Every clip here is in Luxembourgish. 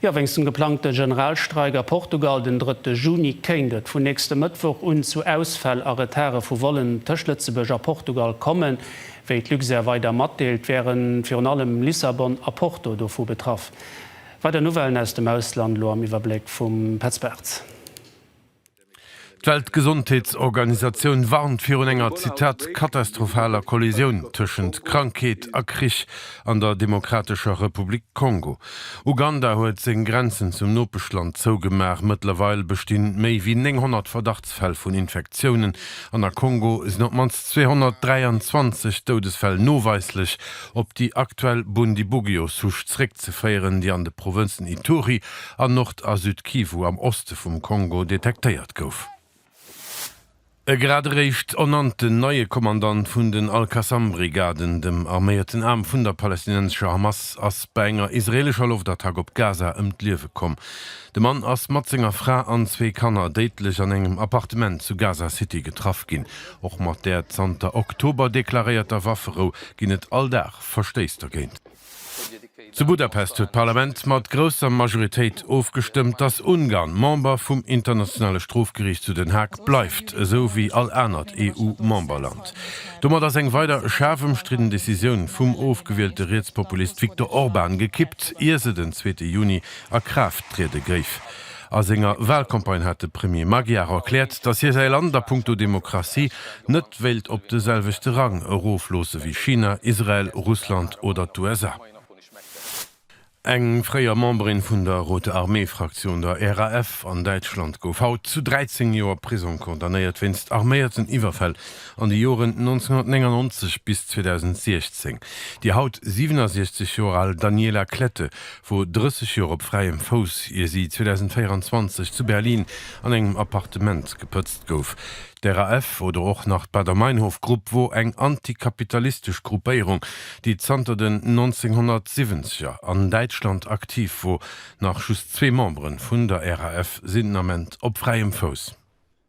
Jo, wéinst dem geplangte Generalstreik a Portugal den drëtte Juni kéint et vun nächste Mëttwoch un zu Ausfäll a Retardë vu Vollen tëscht Lëtzebuerg a Portugal kommen. Wéi d'Luxair weider matdeelt, wäre virun allem Lissabon a Porto dovu betraff. Weider Nouvellen aus dem Ausland elo am Iwwerbléck vum Petz Bartz. D'Weltgesondheetsorganisatioun warnt virun enger, Zitat, katastrophaler Kollisioun tëschent Krankheet a Krich an der Demokratescher Republik Kongo. Uganda huet seng Grenzen zum Nopeschland zougemaach. Mëttlerweil bestinn méi wéi 900 Verdachtsfäll vun Infektiounen an a Kongo sinn op d'mannst 223 Doudesfäll noweislech op déi aktuell Bundibugyo-Souche zeréckzeféieren. zréckzeféieren, déi an de Provënzen Ituri an Nord a Süd-Kivu am Oste vum Kongo detektéiert gouf. E grad eréischt ernannten neie Kommandant vun den al-Qassam-Brigaden, dem arméierten Aarm vun der palästinensescher Hamas, ass bei enger israeelescher Loftattack op Gaza ëm d'Liewe komm. De Mann ass mat senger Fra an zwee Kanner déidlech an engem Appartement zu Gaza City getraff ginn. Och mat där zanter Oktober deklaréierter Wafferou ginn et all Dag Verstéiss dergéint. Zu Budapest huet d'Parlament mat grousser Majoritéit ofgestëmmt, datt Ungarn Member vum Internationale Strofgeriicht zu Den Haag bleift, esou wéi all anert EU-Memberland. Domat ass eng weider schaarf ëmstridden Decisioun vum ofgewielte Rietspopulist Viktor Orban gekippt, ier se den zweete Juni a Kraaft triede géif. A senger Walcampagne hat de Premier Magyar erkläert, datt hie säi Land a Punkto Demokratie net wéilt op de selwechte Rang erofloosse wéi China, Israel, Russland oder d'USA. Eng fréier Memberin vun der Rote Armee-Fraktioun, der RAF, an Däitschland gouf haut zu 13 Joer Prisong condamnéiert wéinst arméierten Iwwerfäll an de Joren 1999 bis 2016. Déi haut 67 Joer al Daniela Klette wor 30 Joer op fräiem Fouss, ier si 2024 zu Berlin an engem Appartement gepëtzt gouf. D'RAF oder och nach d'Baader-Meinhof-Grupp wor eng antikapitalistesch Gruppéierung, déi zanter den 1970er an Däitschland aktiv wor. Nach just zwee Memberen vun der RAF sinn den Ament op fräiem Fouss.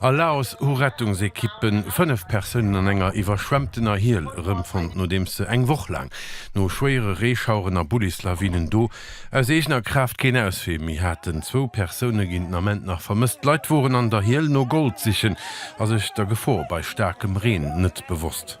A Laos hu Rettungsekippe 5 Persounen an enger iwwerschwemmtener Hiel erëmfonnt, nodeems se eng Woch laang, no schwéiere Reeschaueren a Bullislawinen, do aus eegener Kraaft keen Auswee méi haten. Zwou Persoune ginn den Ament nach vermësst. Leit woren an der Hiel no Gold sichen a sech der Gefor bei staarkem Reen net bewosst.